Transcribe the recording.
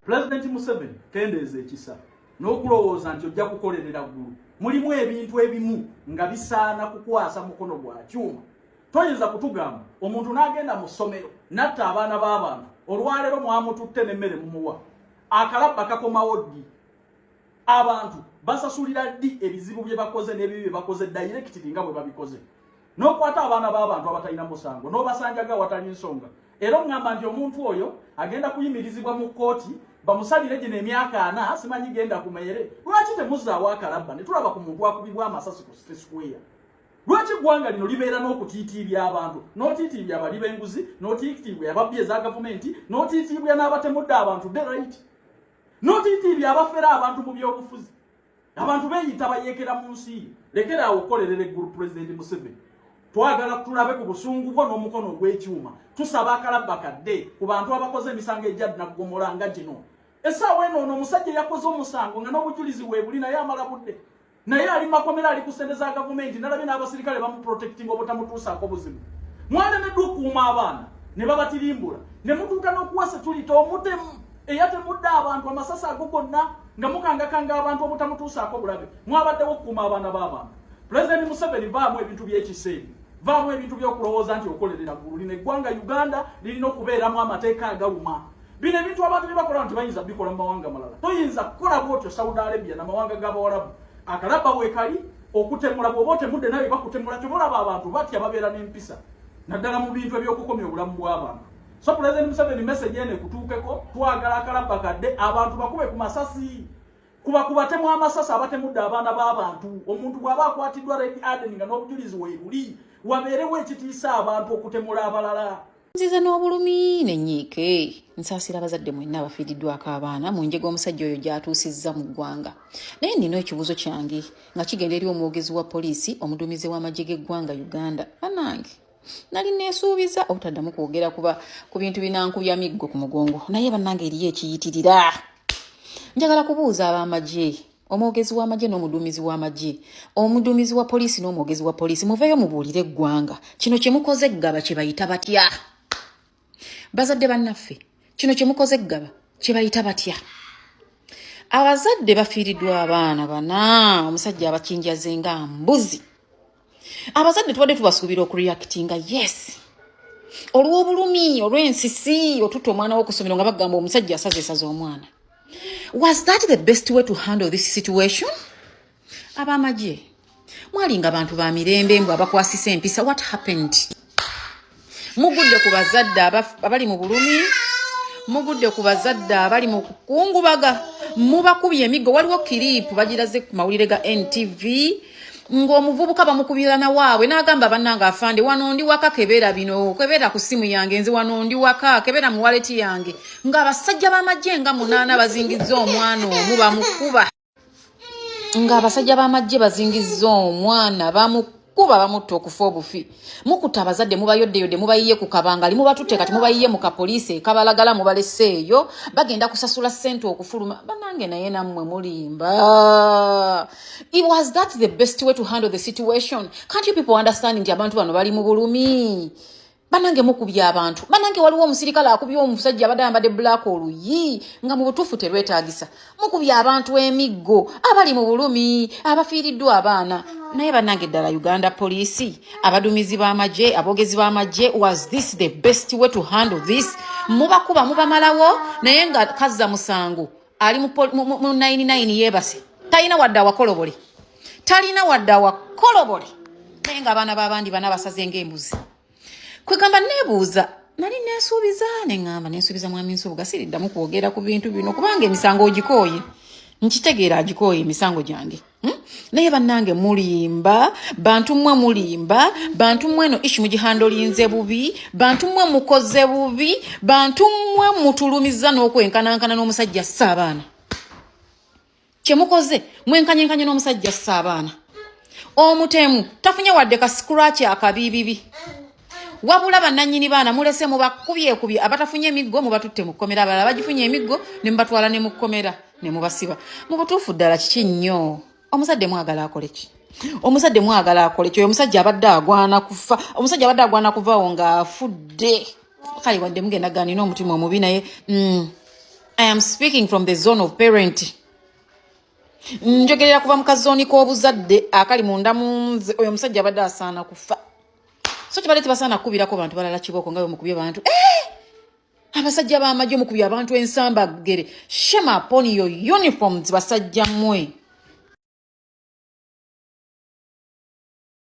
Pulezidenti Museveni kendeeza ekisa n'okulowooza nti ojja kukolerera ggulu mulimu ebintu ebimu nga bisaana kukwasa mukono gwa kyuma toyinza kutugamba omuntu n'agenda mu ssomero natta abaana b'abantu olwaleero mwamututte n'emmere mumuwa akalabba kakomawo ddi abantu basasulira ddi ebizibu bye bakoze n'ebibi bye bakoze dayirekitiri nga bwe babikoze n'okwata abaana b'abantu abatalina musango n'obasanjaga awatali nsonga era oŋŋamba nti omuntu oyo agenda kuyimirizibwa mu kkooti bamusalire gino emyaka ana simanyi genda ku meere lwaki temuzaawo akalabba ne tulaba ku muntu akubibwa amasasi ku city square lwaki eggwanga lino libeera n'okutiitiibya abantu n'otiitiibya abali b'enguzi n'otiitiibwa ababbi eza gavumenti n'otiitiibwa n'abatemudde abantu the right n'otiitiibya abafera abantu mu byobufuzi abantu beyita bayekera mu nsi lekera awo okukolerera eggulu pulezidenti museveni twagala tulabe ku busungu bwo n'omukono ogw'ekyuma tusaba akalabba kadde ku bantu abakoze emisango egyad naggomola nga gino esaawa eno ono omusajja yakoze omusango nga n'obujulizi weebuli naye amala budde naye ali makomera ali ku sente za gavumenti nalabye n'abasirikale bamuprotectinga obutamutuusaako buzibu mwalemeddwa okuuma abaana ne babatirimbula ne mutuuka n'okuwasa tulita omutemu eyatemudde abantu amasasi ago gonna nga mukangakanga abantu obutamutuusaako bulabe mwabaddewo okukuuma abaana b'abantu pulezidenti museveni vaamu ebintu by'ekiseemu vaamu ebintu by'okulowooza nti okolerera ggulu lino eggwanga uganda lirina okubeeramu amateeka agaluma bino ebintu abantu bye bakola nti bayinza bikola mu mawanga malala toyinza kukola bwotyo saudi arabia namawanga g'abawalabu akalabba weekali okutemula bwoba otemudde nawe bakutemula kyoba olaba abantu batya babeera n'empisa naddala mu bintu eby'okukomya obulamu bw'abantu So President Museveni message ene kutuukeko twagala akalabba kadde abantu bakube ku masasi kuba kubatemu amasasi abatemudde abaana b'abantu omuntu bw'aba akwatiddwa Red Aden nga n'obujulizi weebuli wabeerewo ekitiisa abantu okutemula abalala nziza n'obulumi nenyiike nsaasira abazadde mwenna abafiiriddwako abaana mu njega omusajja oyo gy'atuusizza mu ggwanga naye nina ekibuuzo kyange nga kigenda eri omwogezi wa poliisi omuduumizi w'amagye g'eggwanga uganda banange nali neesuubiza obutaddamu kwogera kuba ku bintu binankubya miggo ku mugongo naye bannange eriyo ekiyitirira njagala kubuuza ab'amagye omwogezi w'amagye n'omuduumizi w'amagye omuduumizi wa poliisi n'omwogezi wa poliisi muveeyo mubuulire eggwanga kino kye mukoze eggaba kye bayita batya bazadde bannaffe kino kye mukoze eggaba kye bayita batya abazadde bafiiriddwa abaana bana omusajja abakinjaze nga mbuzi abazadde tubadde tubasuubira okureactinga yes olw'obulumi olw'ensisi otuta omwana wokusomero nga bagamba omusajja asaza esaza omwana was that the best way to handle this situation abamagye mwalinga bantu ba mirembe mbu abakwasisa empisa what happened mugudde ku bazadde abali mu bulumi mugudde ku bazadde abali mu kukungubaga mubakubye emiggo waliwo kiriipu bagiraze ku mawulire ga ntv ng'omuvubuka bamukubira na waabwe n'agamba bannange afande wano ndi waka kebeera bino kebeera ku ssimu yange nze wano ndi waka kebeera mu waleti yange ng'abasajja b'amagye nga munaana bazingizza omwana omu bamukuba nga abasajja b'amajje bazingizza omwana bamu kuba bamutta okufa obufi mukuta abazadde mubayoddeyodde mubayiye ku kabangali mubatutte kati mubayiye mu kapoliisi ekabalagala mubaleseeyo bagenda kusasula ssente okufuluma banange naye nammwe mulimba it was that the best way to handle the situation can't you people understand nti abantu bano bali mu bulumi banange mukubya abantu banange waliwo omusirikale akubya omusajja abadde ayambadde bulaaka oluyi nga mu butuufu terwetaagisa mukubya abantu emiggo abali mu bulumi abafiiriddwa abaana naye banange ddala uganda poliisi abaduumizi b'amagye aboogezi b'amagye was this the best way to handle this mubakuba mubamalawo naye nga kazza musango ali mu 99 yebase talina wadde awakolobole talina wadde awakolobole naye nga abaana babandi bana basaze ngaembuzi kwegamba nebuuza nali nesuubiza neŋamba nesuubiza mwami nsubuga siriddamu kwogera ku bintu bino kubanga emisango ogikooye nkitegeera agikooye emisango gyange Hmm? naye bannange mulimba bantu mmwe mulimba bantu mmwe eno ishi mugihandolinze bubi bantu mmwe mukoze bubi bantu mmwe mutulumiza n'okwenkanankana n'omusajja assa abaana kyemukoze mwenkanyenkanye n'omusajja assa abaana omutemu tafunye wadde ka sikuraki akabiibibi wabula bananyini baana mulese mubakubyekubye abatafunye emiggo mubatutte mu kkomera abalala bagifunye emiggo ne mubatwala ne mu kkomera ne mubasiba mu butuufu ddala kiki nnyo omuzadde mwagala akole ki omuzadde mwagala akole ki oyo omusajja abadde agwana kufa omusajja abadde agwana kuvawo ng'afudde kale wadde mugenda ganina omutima omubi naye mm, i am speaking from the zone of parenting njogerera kuva mu kazooni k'obuzadde akali munda munze oyo omusajja abadde asaana kufa so kibadde tebasaana kukubirako bantu balala kibooko nga bemukubye bantu eh! abasajja b'amagye omukubye abantu ensamba gere shema upon your uniforms basajja mwe